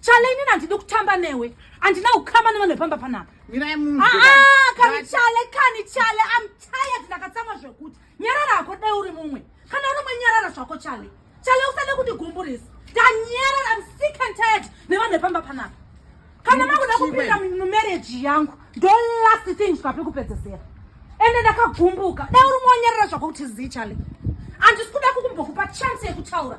Chale inini handidi kutamba newe. Handina kukama nevanhu vepamba panapa. Mirai munhu. Ah, ah kani chale, kani chale. I'm tired ndakatsamwa zvekuti. Nyarara hako dai uri mumwe. Kana uri mumwe nyarara zvako chale. Chale usade kundigumburisa. Ndanyarara, I'm sick and tired nevanhu vepamba panapa. Kana makuda kupinda mumarriage yangu, ndo last thing zvikapi kupedzesera. Ende ndakagumbuka. Dai uri monyarara zvako kuti zii chale. Handisi kuda kukumbokupa chance yekutaura.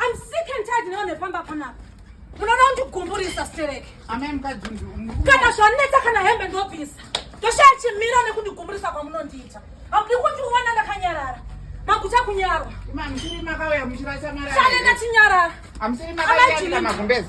I'm sick and tired now nefamba panapa. Munoda kundigumburisa stereke. Amai mukadzi kana zvanetsa kana hembe ndobvisa. Ndoshaya chimira nekundigumburisa kwamunondiita. Hamudi kundiona ndakanyarara. Maguta kunyarwa. Imani chiri makauya muchirasa mara. Chane ndachinyarara. Amusiri makauya magumbezi.